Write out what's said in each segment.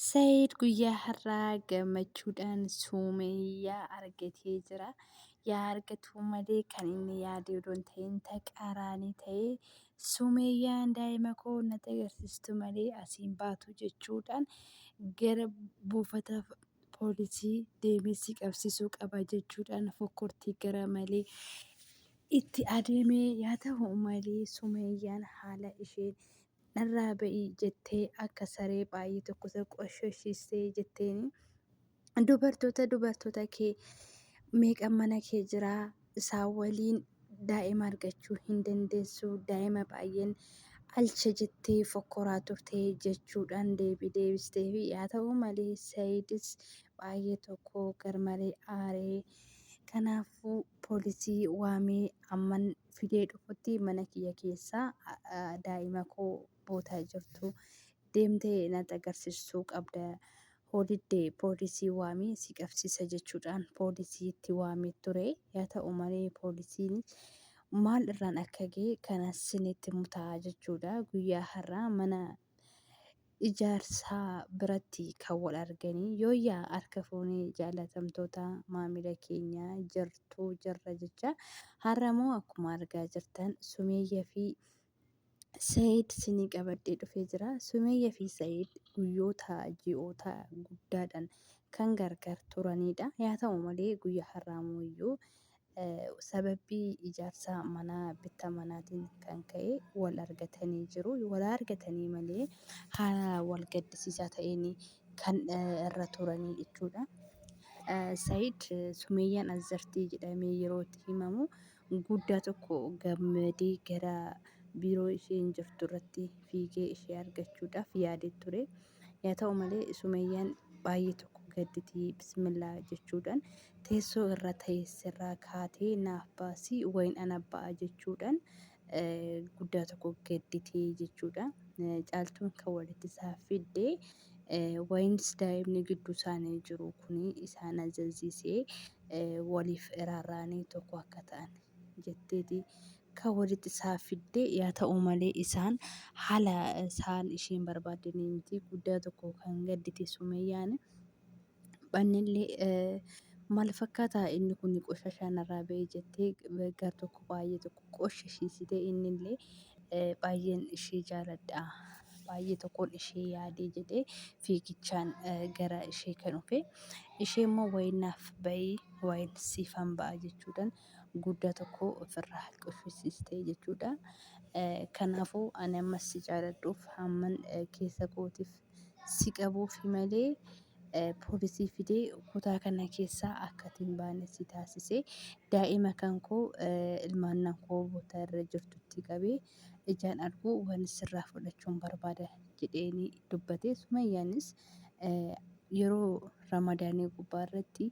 Said guyyaa har'aa gammachuudhaan Suumeyyaa argatee jira. Yaa argatuu malee kan inni yaade odoo hin ta'in taqaaraanii ta'e Suumeyyaan daa'ima koo natti agarsiistu malee asiin baatu jechuudhaan gara buufata poolisii deemee si qabsiisuu qaba jechuudhaan fokkortii gara malee itti adeemee yaa ta'u malee Suumeyyaan haala isheen Narraa ba'i jettee akka saree baay'ee tokko isa qoshoshiiste jetteeni. Dubartoota dubartoota kee meeqa mana kee jira isaa waliin daa'ima argachuu hin dandeessu daa'ima baay'een alcha jettee fokkoraa turte jechuudhaan deebii deebisteefi yaa ta'u malee Saayidis baay'ee tokko garmalee aaree kanaafuu poolisii waamee hamman fidee dhufutti mana kiyya keessa daa'ima koo bootaa jirtu deemtee natti agarsiisuu qabda hoo didde poolisii waamee si qabsiisa jechuudhaan poolisii itti waamee ture yaa ta'u malee poolisiin maal irraan akka ga'e kana sinitti mutaa jechuudha guyyaa har'aa mana ijaarsaa biratti kan wal arganii yooyyaa harka fuunee jaalatamtoota maamila keenya jirtuu jirra jecha har'amoo akkuma argaa jirtan sumeeyya fi Sayid sinii qabadhee dhufee jira. Sumeeyya fi Sayid guyyoota ji'oota guddaadhaan kan gargar turanidha. Yaa ta'u malee guyyaa har'aa mooyyuu Sababbii ijaarsa manaa bitta manaatiin kan ka'e wal argatanii jiru. Wal argatanii malee haala wal gaddisiisaa ta'een kan irra turanii jechuudha. Said Sumeeyyaan Azartii jedhamee yeroo itti himamu guddaa tokko gammadee gara biiroo isheen jirtu irratti fiigee ishee argachuudhaaf yaadee ture. Yaa ta'u malee Sumeyyaan baay'ee tokko gadditi bismillaa jechuudhaan teessoo irra teesserraa kaatee naaf baasi wayin ana ba'a jechuudhaan guddaa tokko gadditee jechuudha. Caaltuun kan walitti isaa fidde wayinis daa'imni gidduu isaanii jiru kun isaan ajajsiisee waliif iraarraanii tokko akka ta'an jetteeti Kan walitti isaan fidde yaa ta'u malee isaan haala isaan isheen barbaadde ni miti guddaa tokko kan gaddite sumeeyyaani. Bannillee eh, maal fakkaata inni kun qoshashaa narraa ba'e jettee gar tokko baay'ee tokko qoshashiisite innillee eh, baay'een ishee jaaladha baay'ee tokkoon ishee yaadee jedhee fiigichaan eh, gara ishee kan dhufe ishee immoo wayiin naaf ba'ii wayiin siifan ba'a jechuudhaan guddaa tokko ofirraa quffisiiste jechuudha. Kanaafuu ani ammas si jaaladhuuf hamman keessa kootiif si qabuufi malee poolisii fidee kutaa kana keessaa akka ati hin baane si taasise. Daa'ima kan koo ilmaannan koo bootaa irra jirtutti qabee ijaan arguu waan sirraa fudhachuun barbaada jedheenii dubbate. Sumayyaanis yeroo ramadaanii gubbaa irratti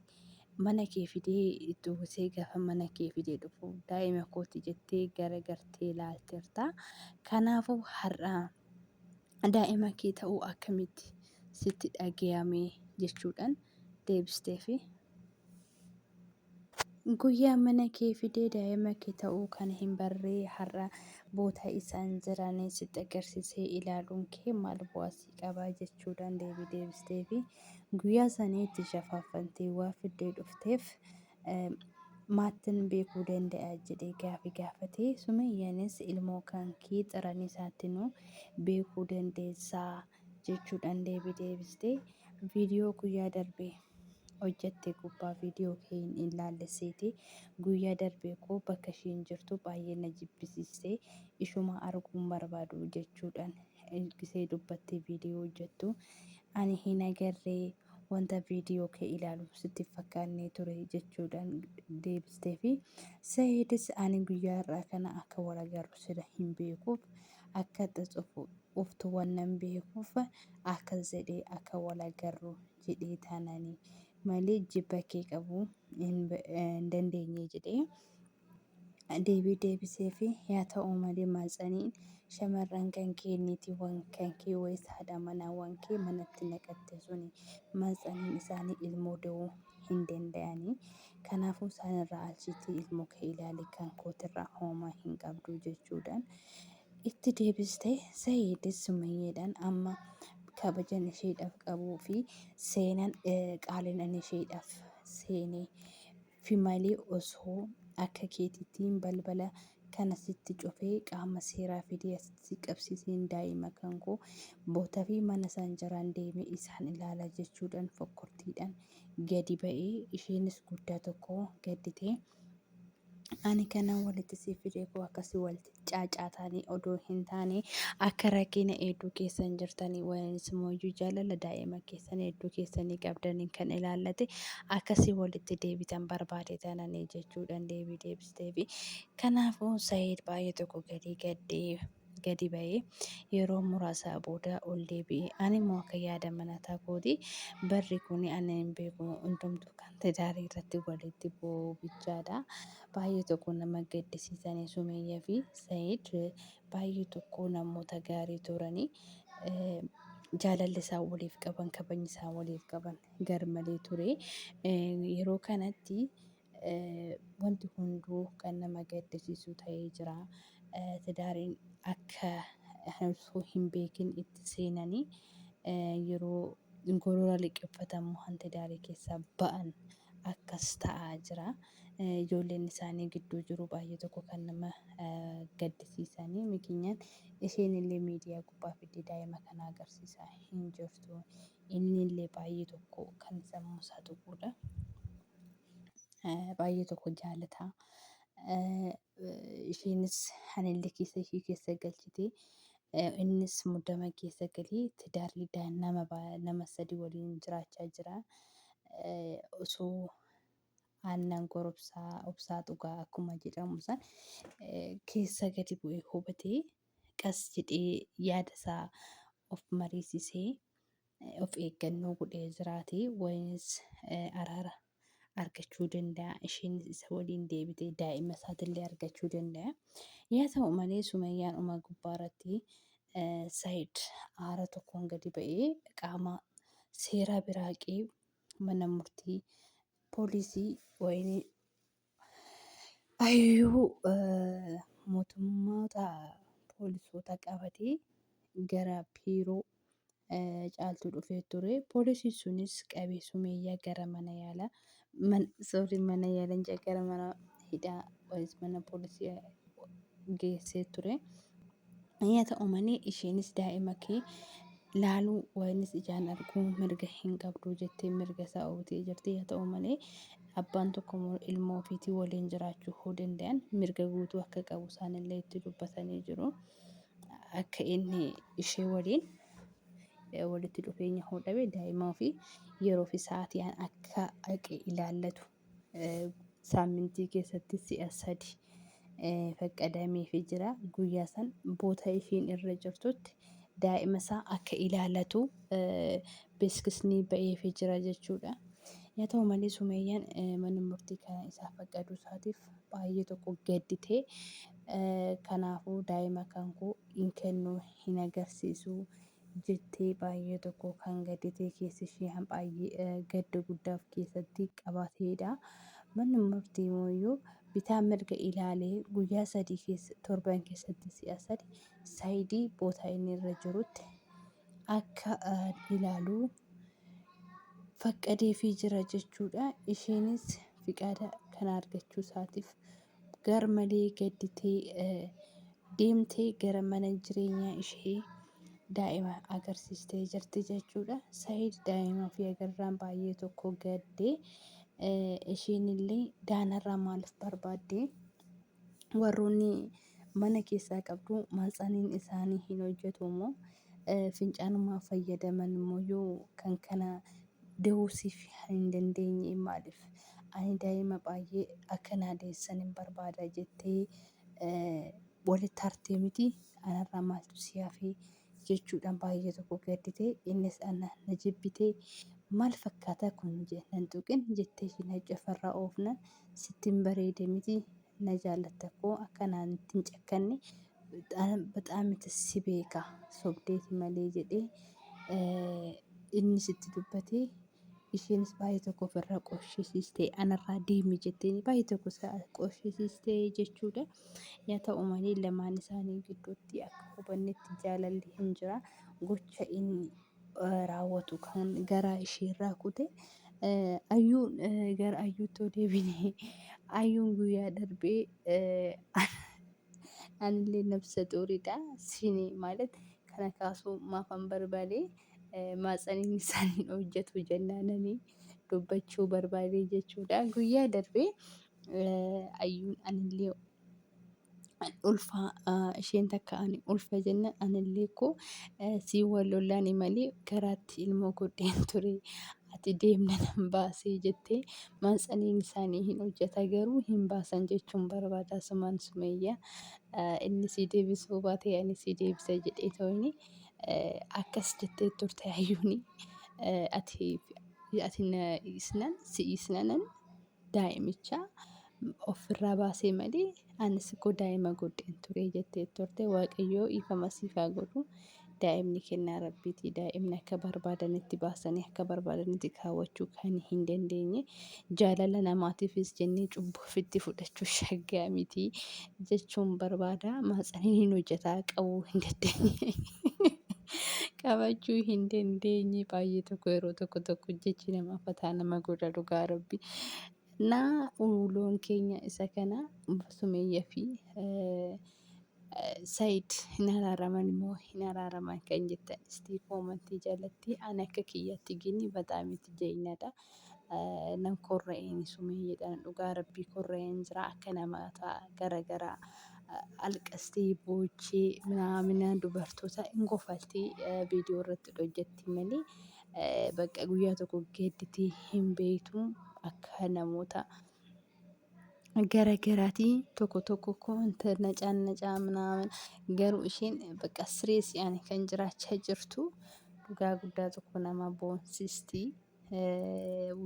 mana kee fidee itti uwwisee gaafa mana kee fidee dhufu daa'ima kooti jettee garagartee ilaalteerta. Kanaafuu har'a daa'ima kee ta'uu akkamitti sitti dhagayame jechuudhaan deebisteefi. Guyyaa mana kee fidee daa'ima kee ta'uu kan hin barree har'a boota isaan jiranii sitti agarsiisee ilaaluun kee maal bu'aa sii qabaa jechuudhaan deebii deebisteefi. Guyyaa sanii itti shafaaffantee waa fiddee dhufteef maattin beekuu danda'a jedhee gaafi gaafate. Sumayyaanis ilmoo kankee xiran isaattinuu beekuu dandeessaa jechuudhaan deebii deebiste. Viidiyoo guyyaa darbe hojjatte gubbaa viidiyoo kee hin ilaalle seete guyyaa darbe koo bakka ishiin jirtu baay'ee na jibbisiiste ishuma arguun barbaadu jechuudhaan ilgisee dubbattee viidiyoo hojjettu ani hin agarree wanta viidiyoo kee ilaalu sitti hin fakkaannee ture jechuudhaan deebistee fi Sa'iidis ani guyyaa irraa kana akka wal agarru sila hin beekuuf akka xuxufu uftu wannan beekuuf akkas jedhee akka wal agarru jedhee taanani malee jibba kee qabu hin dandeenye jedhee deebii deebiseefi yaa ta'u malee maatsaniin shamarran kan kee niitiiwwan kan kee wayis haadha manaawwan kee manatti naqatte suni maatsaniin isaanii ilmoo da'uu hin danda'anii kanaafuu isaanirraa alchiitii ilmoo kee ilaali kan kootirraa hoomaa hin qabdu jechuudhaan itti deebiste sayiidis sumayyeedhaan amma kabajan isheedhaaf qabuu fi seenan eh, qaalinan isheedhaaf seenee fi malee osoo akka keetitiin balbala kana sitti cufee qaama seeraa fidee asitti si qabsiiseen daa'ima kan koo bootafii mana isaan jiraan deemee isaan ilaala jechuudhaan fokkortiidhaan gadi ba'e isheenis guddaa tokko gadditee ani kanan walitti si fide koo akka si walitti caacaataanii odoo hin taane akka rakkina hedduu keessan jirtanii wanis immoo jaalala daa'ima keessan hedduu keessanii qabdaniin kan ilaallate akkasii walitti deebitan barbaade tananii jechuudhaan deebii deebisteefi kanaafuu Saayid baay'ee tokko gadii gaddee gadi ba'ee yeroo muraasaa booda ol deebi'e ani immoo akka yaada manataa kooti barri kun ani hin beeku hundumtuu kan tidaarii irratti walitti bu'uu bichaadha. baay'ee tokko nama gaddisiisanii Sumeeyyaa fi Said baay'ee tokko namoota gaarii turanii jaalalli isaan waliif qaban kabajni isaan waliif qaban garmalee ture. Yeroo kanatti wanti hunduu kan nama gaddisiisu ta'ee jira. Tidaariin akka osoo hin beekin itti seenanii yeroo gorora liqeffatamu hanti daarii keessaa ba'an akkas ta'aa jira. ijoolleen isaanii gidduu jiru baay'ee tokko kan nama gaddisiisanii mikinyaan isheen illee miidiyaa gubbaa fiddee daa'ima kana agarsiisaa hin jirtu inni illee baay'ee tokko kan sammuu isaa tuquudha baay'ee tokko jaalataa isheenis hanillee keessa ishee keessa galchitee innis muddama keessa galee tidaarli nama nama sadii waliin jiraachaa jira osoo aannan gorobsaa obsaa dhugaa akkuma jedhamu san keessa gadi bu'ee hubatee qas jedhee yaada isaa of mariisisee of eeggannoo godhee jiraate wayinis araara argachuu danda'a isheenis isa waliin deebitee daa'ima isaatillee argachuu danda'a yaa ta'u malee sumayyaan uma gubbaa irratti saayid aara tokkoon gadi ba'ee qaama seeraa biraaqee mana murtii poolisii wayinii ayyuu mootummoota poolisoota qabatee gara biiroo caaltuu dhufee ture. Poolisiin sunis qabee sumeeyyaa gara mana yaala sorry mana yaala hin gara mana hidhaa mana poolisii geessee ture. Yaa ta'u malee isheenis daa'ima kee laaluu waanis ijaan arguu mirga hin qabdu jettee mirga isaa ooltee jirti. Yaa ta'u malee abbaan tokko immoo ilmoo ofiitii waliin jiraachuu hoo danda'an mirga guutuu akka qabu isaanillee itti dubbatanii jiru. Akka inni ishee waliin eh, walitti dhufeenya hoo dhabe daa'ima ofii yeroo fi sa'aatii akka haqe ilaallatu. saammintii keessatti si'a sadi faqqadameefi jira. Guyyaa san boota ishiin irra jirtutti daa'ima isaa akka ilaalatu beeksisni ba'eefi jira jechuudha. Yaa ta'u malee Sumeeyyaan manni murtii kana isaa faqqaduu isaatiif baay'ee tokko gadditee kanaafuu daa'ima kan koo hin kennu hin agarsiisu jettee baay'ee tokko kan gadditee keessi ishee hambaay'ee gadda guddaa of keessatti qabateedha. Manni murtii mooyyuu bitaa mirga ilaalee guyyaa sadii keessa torban keessatti si'a sadi saayidii bootaa inni irra jirutti akka ilaalu faqqadeefii jira jechuudha. Isheenis fiqaada kana argachuu isaatiif Garmalee gadditee deemtee gara mana jireenyaa ishee daa'ima agarsiistee jirti jechuudha. Said daa'ima ofii agarraan baay'ee tokko gaddee isheen illee daanarraa maaliif barbaaddee warroonni mana keessaa qabdu maatsaniin isaanii hin hojjetu immoo fincaanumaa fayyadaman immoo kan kana De'uu siif hin dandeenye maaliif? Ani daa'ima baay'ee akka naa deessanin barbaada jettee walitti hartee miti anarraa maaltu si hafe jechuudhaan baay'ee tokko gaddite innis ana na jibbitee maal fakkaata kun je nan tuqin jettee cinaacha ofirraa oofnan sitti hin bareede miti na jaallatta koo akka naatti hin cakkanne baxaamiti si beeka sobdeeti malee jedhee inni sitti dubbatee isheenis baay'ee tokko ofirraa qoshisiistee anarraa deemi jettee baay'ee tokko qoshisiistee jechuudha. Yaa ta'u malee lamaan isaanii gidduutti akka hubannetti jaalalli hin jira gocha inni raawwatu kan garaa isheerraa kute ayyuun gara ayyuutti deebine ayyuun guyyaa darbee anillee nabsa xuuridha sini maalet kana kaasuu maafan barbaade maatsaniin isaaniin hojjetu jennaananii dubbachuu barbaade jechuudha guyyaa darbee ayyuun anillee ulfa isheen takka ani ulfa jenna anillee koo sii wal lollaani malee garaatti ilmoo godheen ture ati deemna nan baasee jettee maansaniin isaanii hin hojjeta garuu hin baasan jechuun barbaada sumaan sumeeyya inni sii deebisuu baatee ani sii deebisa jedhee tooyni akkas jettee turte hayyuuni ati ati isnan si isnanan daa'imicha ofirraa baasee malee anis koo daa'ima godheen ture jettee turte waaqayyoo dhiifama siif haa godhu daa'imni kennaa rabbiiti daa'imni akka barbaadanitti baasanii akka barbaadanitti kaawwachuu kan hin dandeenye jaalala namaatiifis jennee cubbuu ofitti fudhachuu shaggaa miti jechuun barbaada maatsaniin hin hojjetaa qabuu hin dandeenye. qabachuu hin dandeenye baay'ee tokko yeroo tokko tokko jechi nama fataa nama godha dhugaa rabbi na uloon keenya isa kana sumeeyya fi sayid hin araaraman immoo hin araaraman kan jettan istii koomantii jalatti an akka kiyyatti gini bataamiti jeeyinadha Nan korra'eeni Sumeeyyeedhaan dhugaa Rabbii korra'een jira akka namaataa gara garaa alqastee boochee minaamina dubartoota hin kofaltii viidiyoo irratti hojjetti malee bakka guyyaa tokko geedditee hin beektu akka namoota gara garaatii tokko tokko koonta nacaan nacaa minaamin garuu isheen bakka sireessi ani kan jiraachaa jirtu dhugaa guddaa tokko nama boonsistii.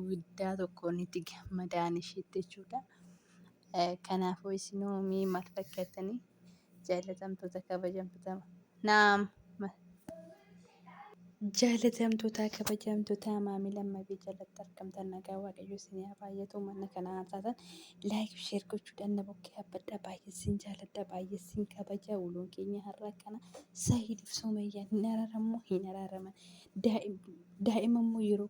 guddaa tokkoon itti gammadaan ishiitti jechuudha. Kanaafuu isinoo mee maal fakkaatanii jaalatamtoota kabajamtoota naam jaalatamtoota kabajamtoota maamila mabii jalatti argamtan nagaa waaqayyo isinii haa baay'atu mana kana haasaasan Like fi share gochuudhaan na bukkee abbadhaa baay'ee sin jaaladha baay'ee sin kabaja waloon keenya har'a akkana Sahiid fi Sumayyaa hin araarammoo hin araaraman daa'ima immoo yeroo